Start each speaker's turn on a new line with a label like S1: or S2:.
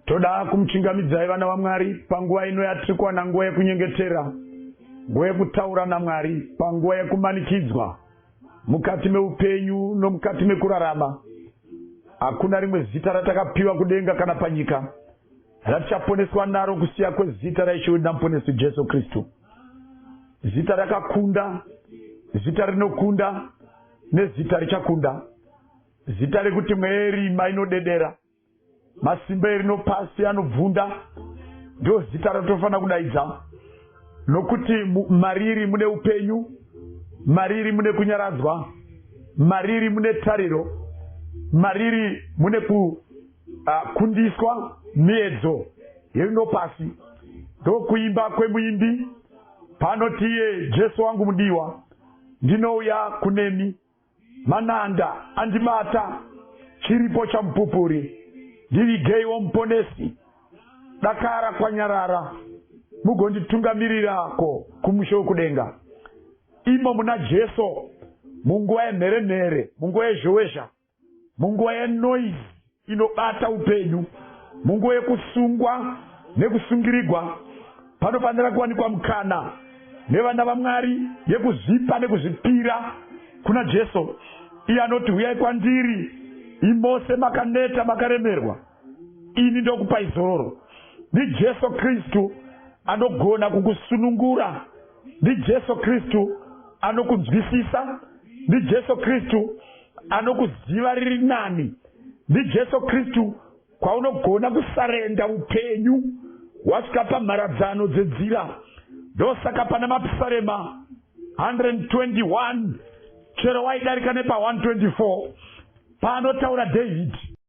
S1: toda kumuchingamidzai vana vamwari panguva ino yatiri kuwana nguva yekunyengetera nguva yekutaura namwari panguva yekumanikidzwa mukati meupenyu nomukati mekurarama hakuna rimwe zita ratakapiwa kudenga kana panyika ratichaponeswa naro kusiya kwezita raishe wedu namuponesi jesu kristu zita rakakunda zita rinokunda nezita richakunda Zita rekuti mweya yerima inodedera, masimba erino pasi anobvunda, ndiro zita ratofanira kudaidza, nokuti mariri mune upenyu, mariri mune kunyaradzwa, mariri mune tariro, mariri mune kukundiswa ah, miedzo yerino pasi. Ndokuimba kwemuimbi paanoti iye Jesu wangu mudiwa, ndinouya kunemi mananda andibata chiripo chamupupuri ndivigeiwo muponesi dakara kwanyarara mugonditungamirirako kumusha wekudenga imo muna jesu munguva yemhere mhere munguva yezhowezha munguva yenoise inobata upenyu munguva yekusungwa nekusungirigwa panofanira kuwanikwa mukana nevana vamwari yekuzvipa nekuzvipira kuna jesu iye anoti huyai kwandiri imose makaneta makaremerwa ini ndokupai zororo ndijesu kristu anogona kukusunungura ndijesu kristu anokunzwisisa ndijesu kristu anokuziva riri nani ndijesu kristu kwaunogona kusarenda upenyu wasvika pamharadzano dzenzira ndosaka pana mapisarema 121 chero waidarika nepa 124 paanotaura dhavhidhi